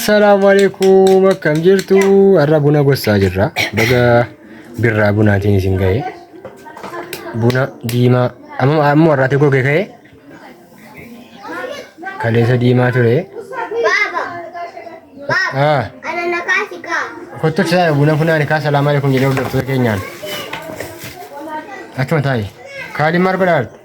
Assalaamu alaikum akkam jirtu har'a buna gossaa jirra baga birraa bunaatiin isin ga'e buna diimaa amma amma warraatee goge ka'e kaleessa diimaa ture ah kottu fisaa buna funaani kaa salaamu alaikum jedhee hordoftoota keenyaan akkuma taa'e kaaliin maal godhaa jirtu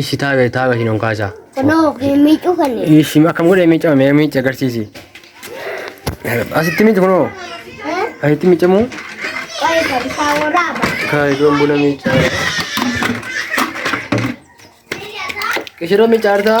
Ishi taa'e taa'e hin onkaasa. Kunoo hin miicuu kan Ishi akkam godhee miicama mee miici agarsiisi. Asitti miici kunoo. Asitti miicamu. Qoy kan isaa waraaba. Haa iddoon buna miica. Ishirra miica artaa.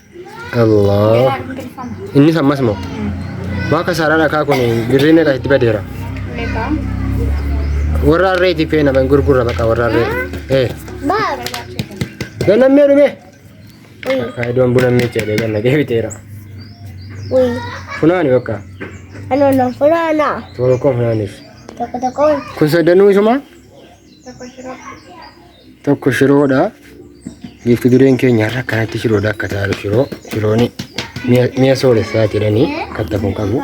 Allah. Beeraa hin bilfama. Innis ammas moo? Waa kasaaraa dhakaa kun birrii meeqa itti badeera? Meeqa? Warra harree itti feena ban gurgurra baqa warra harree. Eh. Gannammee dhume. Faayidoon buna meecha jedhee ganna deebiteera. Uy, Funaani bakka. ano na fulana. Tokko tokkoon funaaniif. Toko toko. Kun soddanuu isumaa? tokko shiroodha. Giifti dureen keenya har'a akkanatti shiroodha akka taa'aru shiroo shirooni mi'a sooressa jedhanii katta kun qabu.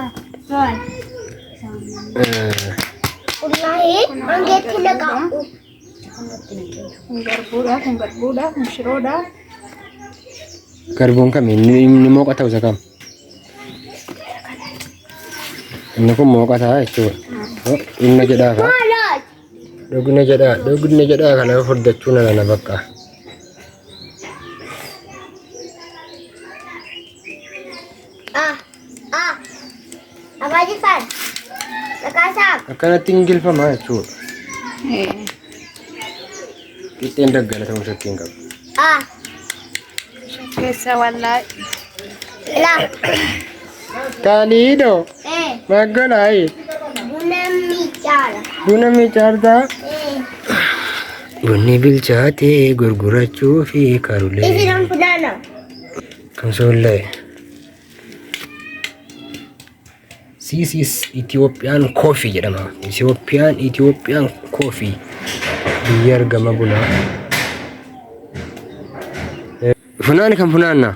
Garbuun kam inni mooqa ta'u isa kam? Inni kun mooqa ta'a jechuudha. Inni jedhaa fa'a. Dhugna jedhaa dhugna jedhaa kana furdachuu nana na bakka. Ah, ah. Abaa Jifaar. Dhaqaasaa. Akkanatti hin gilfamaa jechuudha. Qixxeen daggala ta'uu shakkii hin qabu. Ah, Keessa wallaahi. la. Taaliidoo. Maggala ayi. Buna miicaartaa. Bunni bilchaatee gurgurachuu fi karulee. Kan soollee. This is Ethiopian coffee jedhama. Ethiopian Ethiopian coffee. Biyya argama bunaa. Funaani kan funaannaa.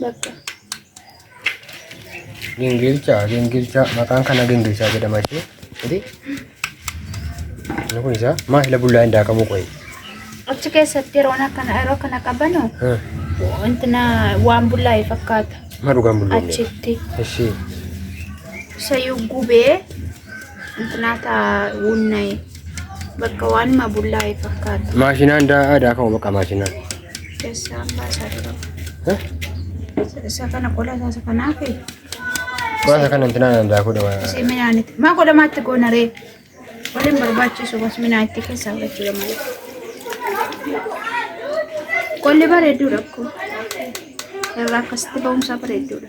Bakka. Gingilchaa gingilchaa maqaan kana gingilchaa jedhama ishee. Ati inni kun isaa maa hila bullaa hin daakamuu qoyi. Achi keessatti yeroon akkana yeroo kana qabanu wantina waan bullaa'e fakkaata. Maa dhugaan bullaa hin Achitti Ishee sayyuu gubee wantina taa wunna'e. Bakka waanuma bullaa'e fakkaata. Maashinaan daa'aa daakama bakka maashinaan. Keessaan baasaa dura. Eh? Isa kana qola isaa kanaa fi Qola kana intinaan daakuu dha. isii midhaan itti. Maa qola maatti goona ree? Qola hin barbaachisu bas midhaan itti keessaa fudhachuu malee. Qolli bareedduudha akkuma. Irraa akkasitti ba'umsaa bareedduudha.